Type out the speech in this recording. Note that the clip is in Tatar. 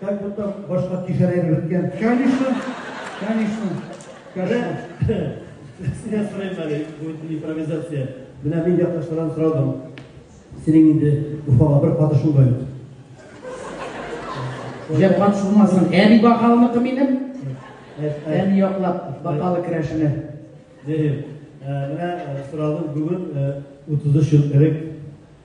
Как будто башка кишәләре беткән. Конечно, конечно, конечно. Сине сорыйм әле, бу импровизация. Менә мин якташлардан сорадым. Синең инде Уфага бер катышың да юк. Җәп катышылмасын. Әби бакалыныкы минем. Әни яклап бакалы керәшенә. Дим. Менә сорадым бүген 33 ел элек